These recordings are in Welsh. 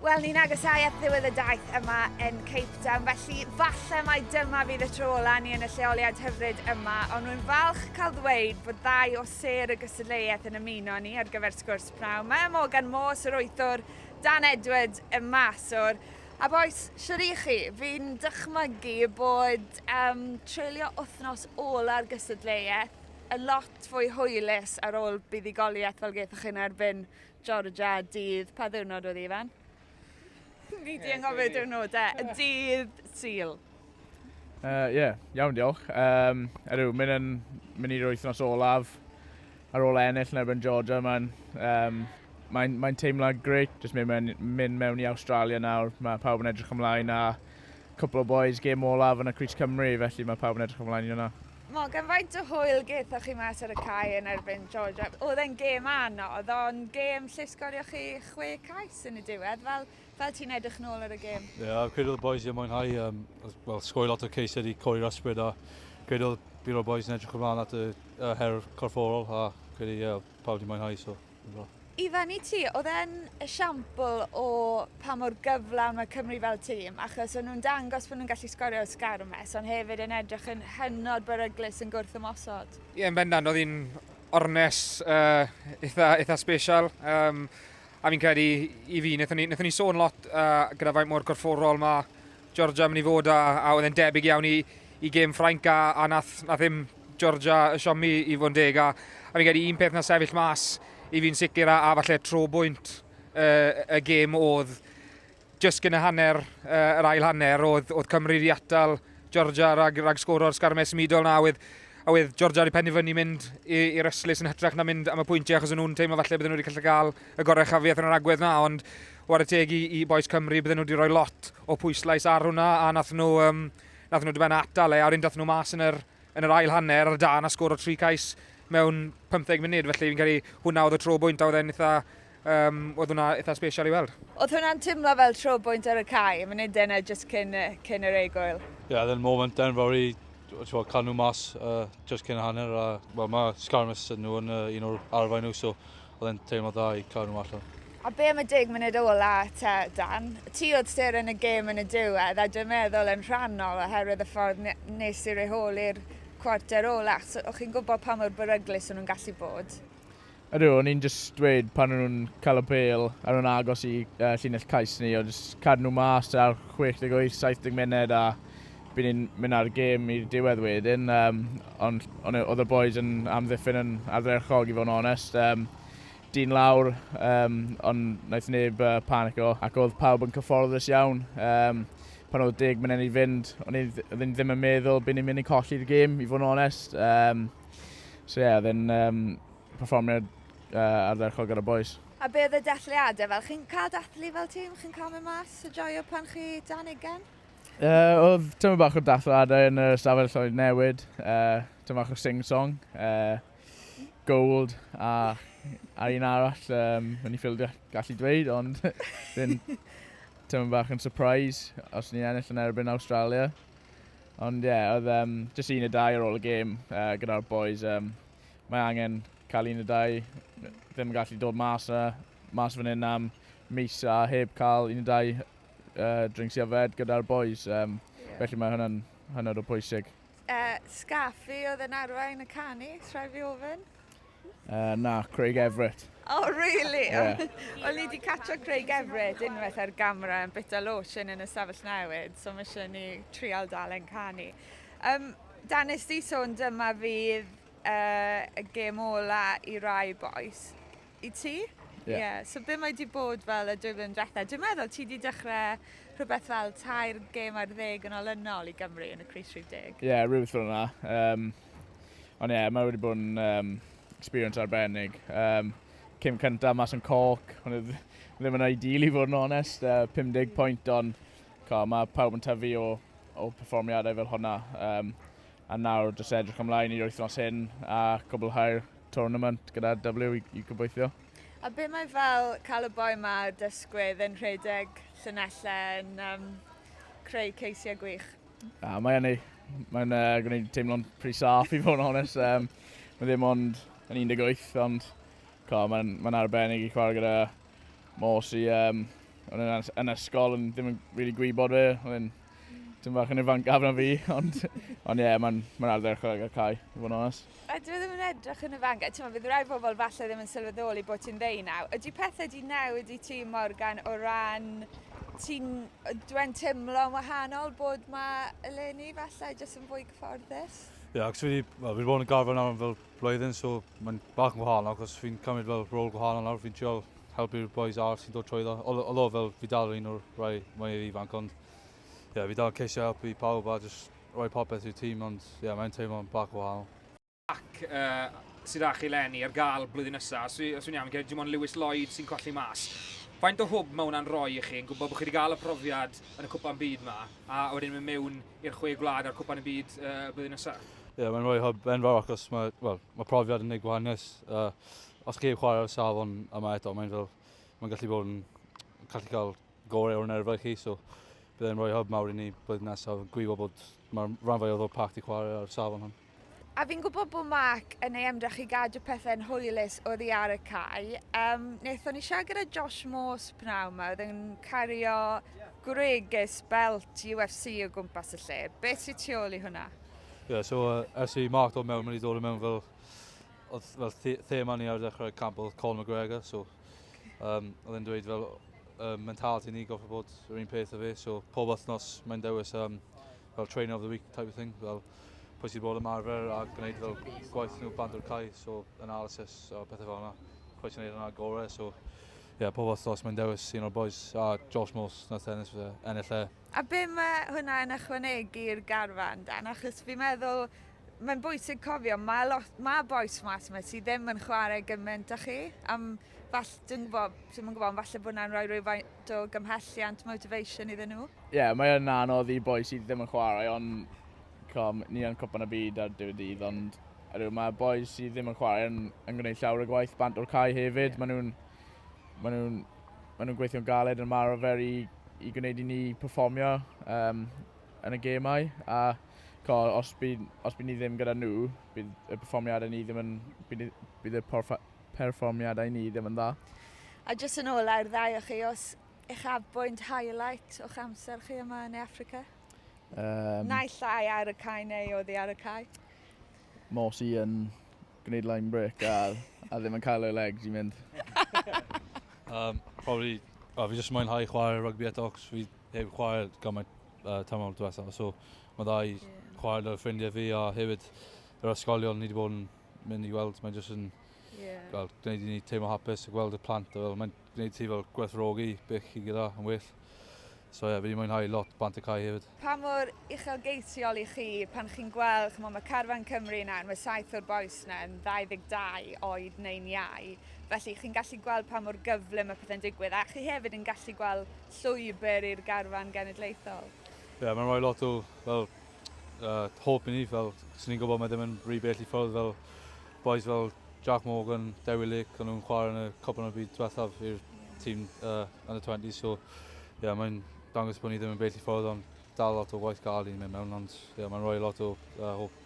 Wel, ni'n agosáu at ddiwedd y daith yma yn Cape Town, felly falle mai dyma fydd y tro ola ni yn y lleoliad hyfryd yma, ond rwy'n falch cael ddweud bod ddau o ser y gystadleuaeth yn ymuno ni ar gyfer sgwrs pnawn. Mae Morgan Moore, Sir Wythwr, Dan Edward, y maswr, A boes, siwr i chi, fi'n dychmygu bod um, treulio wythnos ola'r gystadleuaeth yn lot fwy hwylus ar ôl buddugoliaeth fel gaethoch chi'n erbyn Georgia, dydd, pa ddiwrnod oedd hi fan? Fi di anghofio diwrnodau. Y dydd Sul. Ie, uh, yeah, iawn diolch. Um, Erw, mynd yn mynd i'r wythnos olaf ar ôl ennill yn erbyn Georgia. Mae'n um, mae, mae teimlo greu, jyst mynd, mewn, mynd mewn i Australia nawr. Mae pawb yn edrych ymlaen a cwpl o boys gêm olaf yn y Cris Cymru, felly mae pawb yn edrych ymlaen i hwnna. Mae gen faint o hwyl gethoch chi mas ar y cae yn erbyn Georgia. Oedd e'n gêm anodd, ond gêm lle sgorio chi chwe cais yn y diwedd. Fel, fel ti'n edrych nôl ar y gêm? Ie, yeah, credu oedd y boys wedi mwynhau, um, well, sgoi lot o ceised i codi'r ysbryd, a credu oedd byd o'r boys yn edrych ymlaen at y, y her corfforol, a credu, ie, yeah, pawb wedi mwynhau, so. Ifan i ti, oedd e'n esiampl o pa mor gyflawn mae Cymru fel tîm, achos o'n nhw'n dangos bod nhw'n gallu sgorio o sgar o mes, ond hefyd yn edrych yn hynod beryglus yn gwrth ymosod. Ie, yeah, yn bendant, oedd hi'n ornes uh, eitha, eitha special. Um, a fi'n credu i fi, wnaethon ni, ni sôn lot uh, gyda faint mor corfforol mae Georgia mynd i fod a, a oedd e'n debyg iawn i, i gêm Ffrainc a, a nath, nath ddim Georgia y siomi i fod yn deg a, a fi'n credu un peth na sefyll mas i fi'n sicr a, a falle tro bwynt uh, y gêm oedd jyst gyn y hanner, uh, yr ail hanner oedd, oedd Cymru wedi atal Georgia rhag, rhag sgwr o'r sgarmau symudol na oedd a oedd Georgia wedi penderfynu mynd i'r yslis yn hytrach na mynd am y pwyntiau achos nhw'n teimlo falle bydden nhw wedi gallu cael y gorau chafiaeth yn yr agwedd na ond wad y teg i, i boes Cymru bydden nhw wedi rhoi lot o pwyslais ar hwnna a nath nhw um, Nath nhw dyben atal e, a wedyn dath nhw mas yn yr, yn yr ail hanner ar y dan a sgor o tri cais mewn 15 munud, felly fi'n credu hwnna oedd y tro bwynt a oedd e'n eitha, um, oedd hwnna eitha special i weld. Oedd hwnna'n timlo fel tro bwynt ar y cae, y munud yna just cyn, cyn yr egwyl? Ie, yeah, oedd e'n moment then fawr i twa, cael nhw mas uh, just cyn hanner a well, mae Scarmus yn nhw yn uh, un o'r arfau nhw, so Oedd e'n teimlo dda i cael nhw allan. A be am y deg munud ôl a te, Dan? Ti oedd ster yn y gêm yn y diwedd a dwi'n meddwl yn rhannol oherwydd y ffordd nes i reholi'r cwarter ola. So, o'ch chi'n gwybod pa mor beryglus o'n nhw'n gallu bod? Ydw, o'n i'n just dweud pan o'n nhw'n cael y bel a o'n nhw'n agos i uh, llinell cais ni, o'n just cadw nhw mas ar 68, 70 munud a By ni'n mynd â'r gêm i'r diwedd wedyn, um, ond on, oedd y boys yn amddiffyn yn ardderchog i fod yn onest. Um, dyn lawr, um, ond wnaeth neb uh, panico, ac oedd pawb yn cyfforddus iawn. Um, pan oedd deg mynd i fynd, o'n i ddim yn meddwl byd ni'n mynd i colli'r gêm, i fod yn onest. Um, so ie, yeah, oedd yn um, perfformiad uh, ardderchog ar y boys. A beth y dathliadau fel? Chi'n cael dathlu fel tîm? Chi'n cael mynd mas a joio pan chi dan ugen? Uh, oedd tyma bach o dathladau yn y stafell lloyd newid, uh, tyma bach o sing-song, uh, gold a, a un arall um, yn ei ffildio gallu dweud, ond fi'n tyma bach yn surprise os ni'n ennill yn erbyn Australia. Ond ie, yeah, oedd um, jyst un y dau ar ôl y gêm uh, gyda'r boys. Um, mae angen cael un y dau, ddim yn gallu dod mas, uh, mas fan hyn am mis a heb cael un y dau uh, drinks i yfed gyda'r boys, um, yeah. felly mae hwnna'n hynod o pwysig. Uh, Scaffi oedd yn arwain y canu, trai fi ofyn? Uh, na, Craig Everett. Oh, really? Yeah. O'n i wedi catcho Craig Everett unwaith ar gamera yn bita lotion yn y sefyll newid, so mae eisiau ni trial dal yn canu. Um, Dan ysdi sôn dyma fydd uh, y gêm ola i rai boes. I ti? Ie. Ie. So be' mae 'di bod fel y dwy flynedd dwetha? Dwi'n meddwl ti 'di dechre rhwbeth fel tair gêm ar ddeg yn olynol i Gymru yn y crys rhif deg. Ie rhywbeth fel 'na. Yym. Ond ie mae wedi bod yn yym experience arbennig. Yym. Cêm cynta mas yn Cork o'n i dd- ddim yn ideal i fod yn onest yy pum deg pwynt ond ch'o' ma' pawb yn tyfu o o perfformiadau fel hwnna yym a nawr jyst edrych ymlaen i'r wythnos hyn a cwblhau'r tournament gyda W i, i gobeithio. A be mae fel cael y boi yma o dysgwydd yn rhedeg llynellau yn um, creu ceisiau gwych? A, mae hynny. Mae'n uh, gwneud teimlo'n pretty saff i fod yn honest. Um, mae ddim ond yn 18, ond mae'n ma arbennig i chwarae gyda Mors i, um, o'n yn, yn ysgol, yn ddim yn really gwybod fe, o'n yn Dwi'n bach yn ifancaf na fi, ond ond ie, yeah, mae'n ma arfer chwarae gael cael, i fod yn onest. A dwi ddim yn edrych yn ifanc, a ti'n meddwl, bydd rai bobl falle ddim yn sylweddoli bod ti'n ddeu naw. Ydy pethau di newid i ti, Morgan, o ran ti'n dwi'n teimlo'n wahanol bod mae eleni falle jyst yn fwy cyfforddus? Ie, yeah, ac dwi wedi, well, wedi bod yn garfod nawr am fel blwyddyn so mae'n bach yn wahanol achos fi'n cymryd fel rôl gwahanol nawr, fi'n trial helpu'r boys arall sy'n dod trwyddo. Olo fel fi dal yr un o'r rhai mwyaf ifanc ond ie, yeah, fi dal ceisio helpu pawb a jyst rhoi popeth i'r tîm ond ie, yeah, mae'n teimlo'n bach o wahanol. Ac uh, sydd â chi lenni ar gael blwyddyn nesaf, os yw'n iawn, gen dim ond Lewis Lloyd sy'n colli mas. Faint o hwb mae hwnna'n rhoi i chi yn gwybod bod chi wedi cael y profiad yn y cwpan byd yma a wedyn mynd mewn i'r chwe gwlad a'r cwpan y byd uh, y blwyddyn nesaf? Ie, yeah, mae'n rhoi hyb enfawr achos mae, well, mae profiad yn ei gwahaniaeth. Uh, os chi chwarae ar y safon yma eto, mae'n fel, mae'n gallu bod yn gallu cael gorau o'r nerfau chi, so bydd e'n rhoi hyb mawr i ni blwyddyn nesaf. Gwybo bod mae'r rhan fwyaf o'r pact i chwarae ar y safon hwn. A fi'n gwybod bod Mark yn ei ymdrech i gadw pethau'n hwylus oddi ar y cae. Um, Nethon ni siarad gyda Josh Morse pnawn yma, oedd yn cario gwregys belt UFC o gwmpas y lle. Beth sy'n tu ôl i hwnna? Ie, yeah, so uh, ers i Mark dod mewn, mae wedi dod yn mewn fel, oedd fel the thema ni ar ddechrau camp oedd Colin McGregor, so um, oedd e'n dweud fel uh, mentality ni goffa bod yr un peth o fe, so pob wythnos mae'n dewis um, fel trainer of the week type of thing, fel pwy sydd bod ymarfer a gwneud fel gwaith nhw band o'r cae, so analysis a pethau fel yna. Pwy sy'n gwneud yna gorau, so yeah, pob wythnos mae'n dewis un o'r boys a Josh Morse na tennis fe ennill e. A be mae hwnna yn ychwanegu'r garfan dan? Achos fi'n meddwl mae'n bwysig cofio, mae, lot, mae boes mas yma sydd ddim yn chwarae gymaint â chi. Am, fall, dwi'n gwybod, dwi'n gwybod, falle bod yna'n rhoi rhyw lot o gymhelliant, motivation iddyn nhw. Ie, yeah, mae yn anodd i boi sydd ddim yn chwarae, ond com, ni yn cwpan y byd ar diwedd dydd, ond ydw, mae boi sydd ddim yn chwarae yn, yn gwneud llawer o gwaith bant o'r cae hefyd. Yeah. Maen nhw'n ma nhw, ma nhw gweithio'n galed yn marfer i, i gwneud i ni performio um, yn y gemau. A co, os bydd, os bydd ni ddim gyda nhw, bydd y performiadau ni ddim yn... bydd, bydd y porfa, perfformiadau ni ddim yn dda. A jyst yn ola i'r ddau o chi, os uchafbwynt, highlight, o'ch amser chi yma yn Africa? Um, Naill ai ar y cae neu oedd hi ar y cae? Morsi yn gwneud line break a, a ddim yn cael ei legs i mynd. um, probably, oh, fi jyst mwynhau chwarae rugby eto, cos fi heb chwarae gymaint uh, tamol diwetha. So, mae dda i yeah. chwarae dy ffrindiau fi a hefyd yr ysgolion ni wedi bod yn mynd i weld, mae'n jyst yn yeah. gweld, gwneud i ni teimlo hapus a gweld y plant. Fel, mae'n gwneud ti fel gwerthrogi beth chi gyda yn well. So ie, yeah, fi wedi mwynhau lot bant y cae hefyd. Pa mor uchelgeisiol i chi pan chi'n gweld, chymod, mae Carfan Cymru yna, mae saith o'r boes yna yn 22 oed neu'n iau, felly chi'n gallu gweld pa mor gyfle mae pethau'n digwydd, a chi hefyd yn gallu gweld llwybr i'r garfan genedlaethol. Ie, yeah, mae'n rhoi lot o fel, uh, hope i ni, fel, sy'n ni'n gwybod mae ddim yn rhy bell i ffwrdd, fel boys fel Jack Morgan, Dewi Lake, ond nhw'n chwarae yn y cwpan o'r byd diwethaf i'r tîm uh, under 20, so yeah, mae'n dangos bod ni ddim yn bell i ffwrdd, ond dal lot o waith gael i'n mynd mewn, ond yeah, mae'n rhoi lot o uh, hope.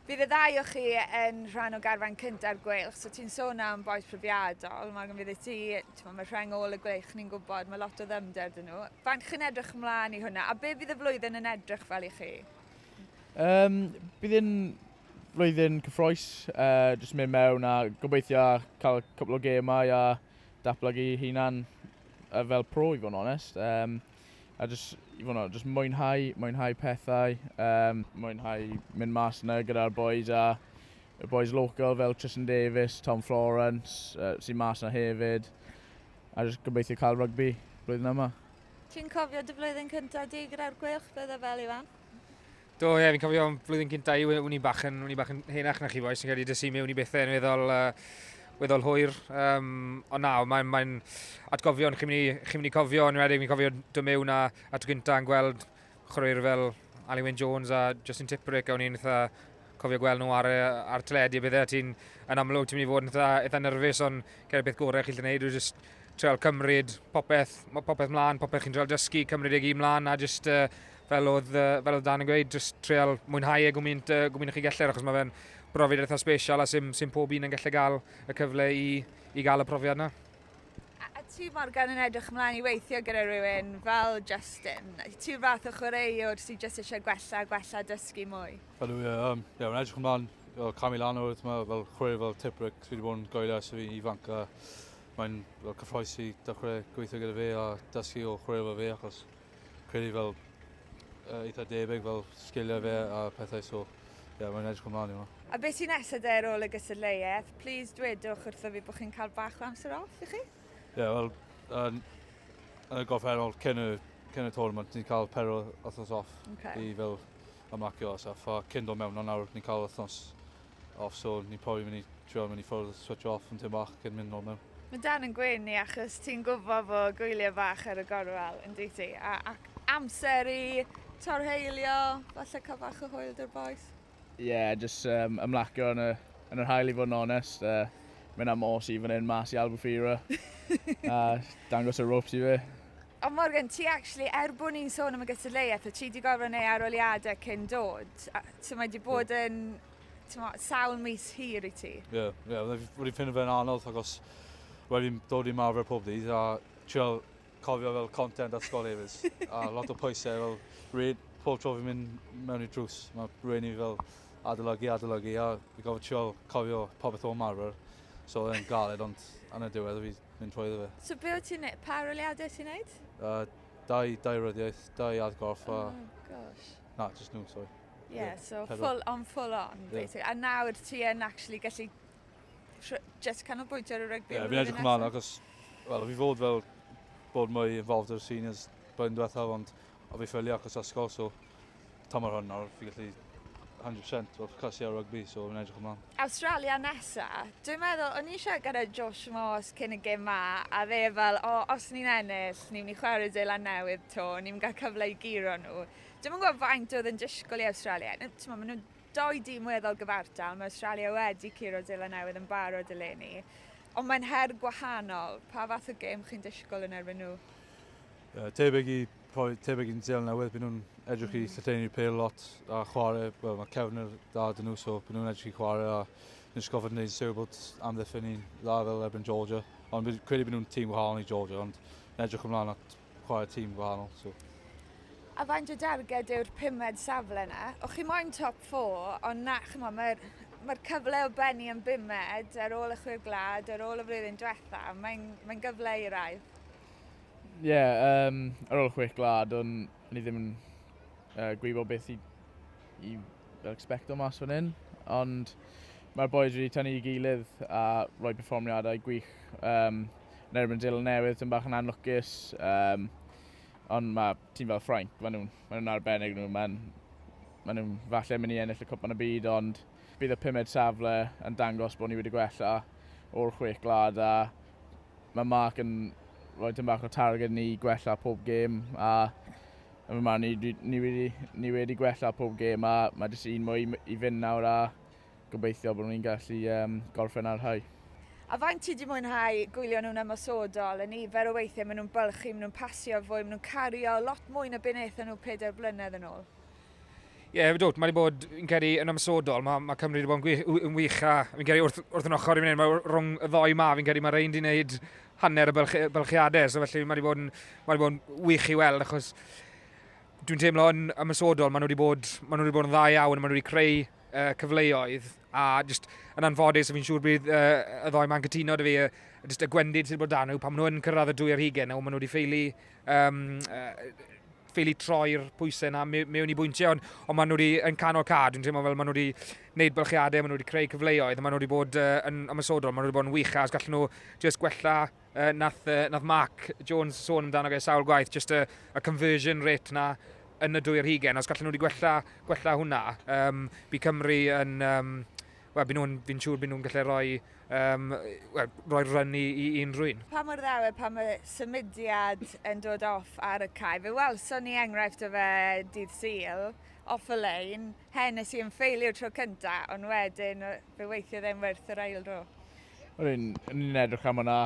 Bydd y ddau o chi yn rhan o garfan cynta'r gweilch, so ti'n sôn am boes profiadol, mae gen fyddi ti, ti'n mae rheng ôl y gweilch ni'n gwybod, mae lot o ddymder dyn nhw. Faint chi'n edrych ymlaen i hwnna, a be fydd y flwyddyn yn edrych fel i chi? Um, bydd yn flwyddyn cyffroes, uh, jyst mynd mewn a gobeithio cael cwpl o gemau a datblygu hunan uh, fel pro i fod yn onest. Um, a jyst, i fod yn onest, jyst mwynhau, mwynhau pethau, um, mwynhau mynd mas yna gyda'r boys a y boys local fel Tristan Davis, Tom Florence, uh, sy'n mas yna hefyd, a jyst gobeithio cael rygbi blwyddyn yma. Ti'n cofio dy flwyddyn cyntaf di gyda'r Gweilch, bydde fel Iwan? Do, ie, fi'n cofio flwyddyn cynta i, wn i'n bach yn, wn i'n bach yn henach na chi boes, yn cael ei dysu mewn i bethau yn weddol, uh, weddol hwyr. Um, ond na, mae'n mae atgofion chi'n mynd, i, chi mynd i cofio, yn wedyn fi'n cofio dy mewn a, a tro gynta yn gweld chwaraewyr fel Ali Wyn Jones a Justin Tipperick, a o'n i'n eitha cofio gweld nhw ar, ar teledu a bethau, ti'n yn amlwg ti'n mynd i fod yn eitha, eitha nerfus, ond cael beth gorau chi'n gwneud yw just treol cymryd popeth, popeth mlaen, popeth chi'n treol dysgu, cymryd ei gyd mlaen, a just uh, fel oedd, uh, fel oedd Dan yn gweud, just treol mwynhau e gwmynt, uh, gwmynt chi gellir, achos mae fe'n brofiad eitha special a sy'n sy pob un yn gallu gael y cyfle i, i gael y profiad yna. A, a ti Morgan yn edrych ymlaen i weithio gyda rhywun fel Justin? Ti'n fath o chwaraewr sy'n just eisiau gwella, gwella, dysgu mwy? Fel yw, ie, um, ie, mae'n edrych ymlaen o cam i lan o'r yma, fel chwaraewr fel Tiprick, fi wedi bod yn goelio ers fi'n ifanc a mae'n cyffroes i dechrau gweithio gyda fe a dysgu o chwaraewr fel fe achos credu fel uh, eitha debyg fel sgiliau fe a pethau so ie, yeah, mae'n edrych ymlaen i hwnna. A beth sy'n nesaf de ar ôl y gystadleuaeth? Please dwedwch wrtho fi bod chi'n cael bach o amser off i chi? Ie, yeah, wel, yn, yn y gorffennol cyn y, cyn y tournament ni'n cael pero wythnos off okay. i fel ymlacio a stuff. A cyn dod mewn nawr ni'n cael wythnos off so ni'n probably mynd i trio mynd i ffwrdd, switch off am tym bach cyn mynd nôl mewn. Mae Dan yn gwyn i achos ti'n gwybod fo gwyliau bach ar y gorwel yn dweud ti a, ac amser i torheilio, falle cael bach o hwyl dy'r boes? Ie, yeah, jyst um, ymlacio yn y, yn yr hael i fod yn onest. Uh, mynd am os i fan hyn mas i Albufeira a dangos y ropes i fe. Ond Morgan, ti actually, er bod ni'n sôn am y gystadleuaeth, o ti wedi gorfod neu aroliadau cyn dod. So mae wedi bod yn mo, sawl mis hir i ti. Ie, yeah, yeah, wedi ffind fe'n anodd agos wedi dod i marfer pob dydd a trio cofio fel content at sgol hefyd. a lot o pwysau fel rhaid pob tro fi'n mynd mewn i drws. Mae rhaid i fi fel adolygu, adolygu a fi gofod trio cofio popeth o'n marfer. So yn galed ond yn y diwedd fi mynd trwyddo fe. So be wyt ti'n neud? Pa aroliadau ti'n neud? Uh, dau, dau ryddiaeth, dau adgorff a... Oh, gosh. Na, just nhw, sorry. Ie, yeah, so pedal. full on, full on, yeah. basically. A nawr ti yn actually gallu just canolbwyntio ar y rygbi. Ie, yeah, fi'n edrych ymlaen, achos, wel, fi fod fel bod mwy involved o'r seniors blwyddyn diwethaf, ond O fi ffili achos ysgol so tymor hwn nawr fi gallu 100% fel ffocysu ar rygbi so fi'n edrych ymlan. Awstralia nesa. Dwi'n meddwl o'n i siarad gyda Josh Moss cyn y gêm 'ma a fe fel o os ni'n ennill ni'n myn' i chware Zeland Newydd 'to ni'n myn' i ga'l cyfle i guro nhw. Dwi'm yn gwbo faint o'dd yn disgwl i Awstralia n- t'mo' ma' nw'n dou dîm weddol gyfartal ma' Awstralia wedi curo Zeland Newydd yn barod eleni. Ond mae'n her gwahanol. Pa fath o gêm chi'n disgwl yn erbyn nhw? Uh, tebeg i rhoi tebeg i'n Zealand Newydd, byd nhw'n edrych i llythennu'r pel lot a chwarae, well, mae cefnir da dyn nhw, so byd nhw'n edrych i chwarae a nes gofod yn gwneud syw bod amddiffyn ni'n dda fel erbyn Georgia. Ond credu byd nhw'n tîm gwahanol i Georgia, ond yn edrych ymlaen at chwarae tîm gwahanol. So. A faint o darged yw'r pumed safle yna? O chi moyn top 4, ond na, chymo, mae'r mae cyfle o benni yn bumed ar ôl y chwyr glad, ar ôl y flwyddyn diwetha, mae'n mae gyfle i rai. Ie yym ar ôl chwech gwlad o'n o'n i ddim yn yy gwybod beth i i fel ecsbecto mas fan 'yn ond ma'r bois wedi tynnu i gilydd a roi perfformiadau gwych yym yn erbyn y Deulawr Newydd tym' bach yn anlwcus yym ond ma' tîm fel Ffrainc ma' nw'n ma' nw'n arbennig n'w ma'n ma' nw'n falle myn' i ennill y Cwpan y Byd ond Bydd y pumed safle yn dangos bod ni wedi gwella o'r chwech gwlad a mae Mark yn rhoi tyn bach o targed ni gwella pob gêm a yn fy marn ni, ni, wedi, ni wedi gwella pob gêm a mae jyst un mwy i fynd nawr a gobeithio bod ni'n gallu um, gorffen ar hau. A faint ti wedi mwynhau gwylio nhw'n ymosodol, y nifer o weithiau maen nhw'n bylchu, maen nhw'n pasio fwy, maen nhw'n cario lot mwy na beth wnaethon nhw pedair blynedd yn ôl? Ie, yeah, dwt, mae wedi bod, yn credu, yn ymsodol. Mae, mae Cymru wedi bod yn, gwych, yn wych a fi'n credu wrth, wrth yn ochr i fynd, mae rhwng y ddoi ma, fi'n credu mae rhain wedi gwneud hanner y bylch, bylchiadau, so felly mae wedi bod yn, mae wedi bod yn wych i weld, achos dwi'n teimlo yn ymsodol, maen nhw wedi bod, maen nhw wedi bod yn dda iawn, maen nhw wedi creu uh, cyfleoedd, A just yn anffodus, fi'n siŵr bydd uh, y ddoi ma'n cytuno dy fi, uh, just y gwendid sydd bod dan nhw, pan maen nhw'n cyrraedd y dwy ar hugen, nawr maen nhw wedi ffeili um, uh, ffili troi'r pwysau yna mewn i bwyntiau, ond, ond maen nhw wedi yn canol cad, dwi'n teimlo fel maen nhw wedi gwneud bylchiadau, maen nhw wedi creu cyfleoedd, maen nhw wedi bod uh, yn ymwysodol, maen nhw wedi bod yn wych, as gallen nhw just gwella uh, nath, uh, nath Mark Jones sôn amdano fe sawl gwaith, just y, y conversion rate na yn y dwy yr hugen. Os gallen nhw wedi gwella, gwella hwnna, um, bu Cymru yn... Um, Wel, byd nhw'n, fi'n siŵr byd nhw'n gallu rhoi, um, well, rhoi run i, i unrhyw un. Pa mor ddawe, pa mae symudiad yn dod off ar y cae? Fe wel, so ni enghraifft o fe dydd syl, off y lein, hen nes i'n ffeilio tro cyntaf, ond wedyn fe weithio ddim werth yr ail ro. O'n i'n i'n edrych am hwnna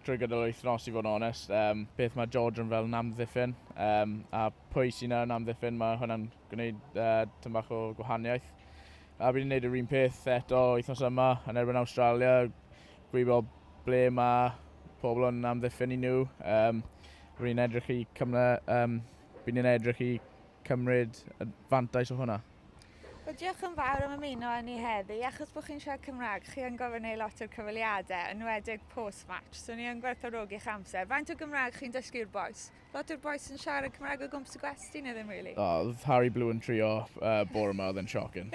trwy gydol yr wythnos i fod yn onest. Um, beth mae George yn fel yn amddiffyn um, a pwy sy'n yn amddiffyn mae hwnna'n gwneud uh, tyn bach o gwahaniaeth. A bydd yn gwneud yr un peth eto wythnos yma yn erbyn Australia. Gwybod ble mae pobl yn amddiffyn i nhw. Um, bydd yn edrych i cymryd, um, bydd yn edrych i cymryd y fantais o hwnna. Wel diolch yn fawr am ymuno â ni heddi. Achos bod chi'n siarad Cymraeg, chi yn gofyn ei lot o'r cyfweliadau, yn wedig post-match, so ni yn gwerthfawrogi'ch amser. Faint o Gymraeg chi'n dysgu'r bois? Lot o'r bois yn siarad Cymraeg o gwmpas y gwesty, neu ddim rili? O, oedd Harry Blue yn trio bore ma, oedd e'n shocking.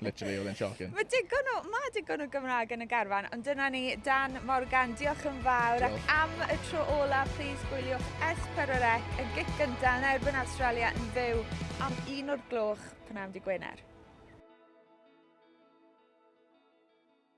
Literally, oedd e'n shocking. Mae digon o, mae digon o Gymraeg yn y garfan, ond dyna ni, Dan Morgan, diolch yn fawr, ac am y tro ola, plis gwyliwch S4C, y gic gynta yn erbyn Awstralia yn fyw am un o'r gloch. Pnawn Dydd Gwener.